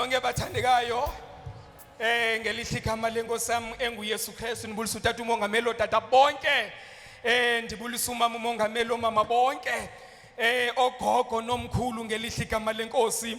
nonke bathandekayo eh ngelihle igama lenkosi yami enguYesu Kristu nibulisa utata umongameli otata bonke eh ndibulisa umama umongameli omama bonke eh ogogo nomkhulu ngelihle igama lenkosi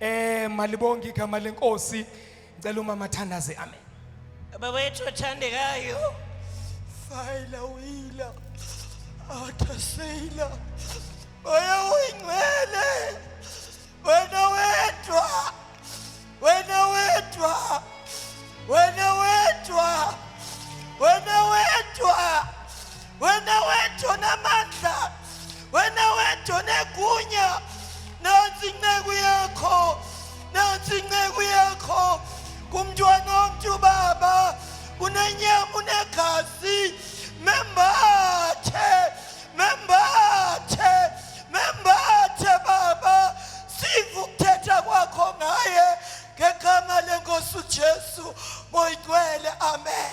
Eh malibonga igama lenkosi. Ngicela umama thandaze amen. Baba wethu othandekayo. Fayila uyila. Athaseyila. Oya uyingcwele. Wena wedwa. Wena wedwa. Wena wedwa. Wena wedwa. wena wedwa onamandla wena wedwa onegunya nansi inceku yakho nansi inceku yakho kumntwana womntu baba unenyama unegazi membathe membathe membathe baba siva ukuthetha kwakho ngaye ngegama lenkosi ujesu moyigcwele amen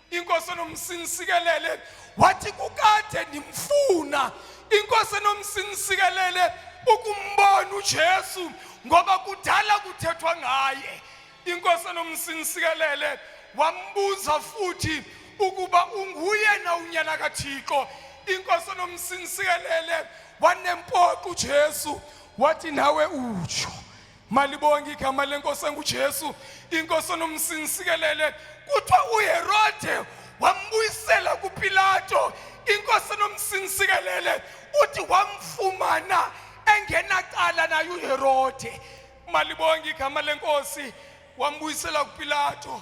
inkosi enomsinisikelele wathi kukade ndimfuna inkosi enomsinisikelele ukumbona uJesu ngoba kudala kuthethwa ngaye inkosi enomsinisikelele wambuza futhi ukuba unguye na unyana kaThixo inkosi enomsinisikelele wanempoqo uJesu wathi nawe utsho Malibonge igama lenkosi enguJesu, inkosi onomsinsikelele. Kuthiwa uHerode wambuyisela kuPilato, inkosi enomsinsikelele. Uthi wamfumana engenacala naye uHerode. Malibonge igama lenkosi, wambuyisela kuPilato.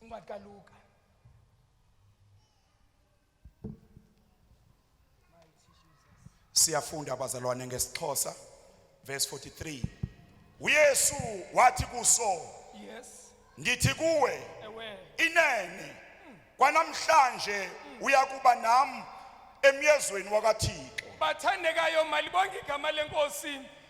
incwadi kaluka siyafunda abazalwane ngesixhosa verse 43 uyesu wathi kuso yes ngithi kuwe inene kwanamhlanje uyakuba nami emyezweni wakathixo bathandekayo malibonke igama lenkosi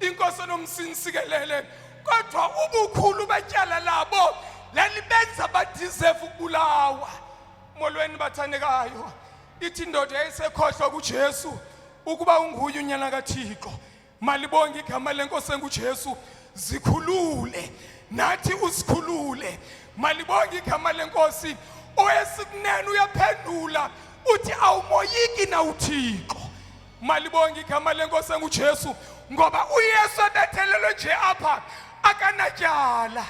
inkosi nomsinsikelele kodwa ubukhulu betyala labo lalibenza badizevu ukubulawa molweni bathandekayo ithi indoda yayisekhohlwa kujesu ukuba unguye unyana kathixo malibonge igama lenkosi engujesu zikhulule nathi usikhulule malibonge igama lenkosi owesikunene uyaphendula uthi awumoyiki na uthixo Malibonge igama lenkosi enguJesu ngoba uYesu ebethelelwe nje apha akanatyala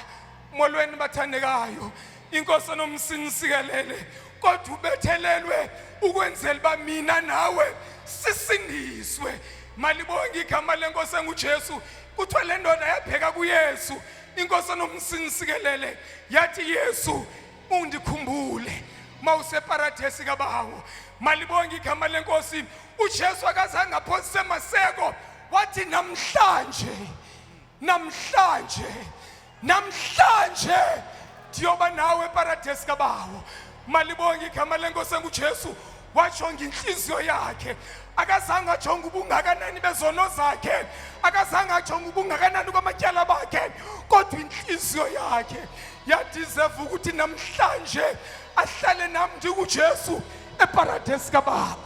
molweni bathandekayo inkosi enomsinisikelele kodwa ubethelelwe ukwenzela uba mina nawe sisindiswe malibonge igama lenkosi engujesu kuthiwa le ndoda yabheka kuyesu inkosi enomsinisikelele yathi yesu ungikhumbule mawuseparadesi kabawo malibonge igama lenkosi uJesu akazange aphosise amaseko wathi namhlanje namhlanje namhlanje ndiyoba nawe eparadesi kabawo malibonge igama lenkosi enguJesu wajonga inhliziyo yakhe akazange ajonge ubungakanani bezono zakhe akazange ajonge ubungakanani kwamatyala bakhe kodwa inhliziyo yakhe yadizeva ukuthi namhlanje ahlale nam ndikujesu eparadesi kababa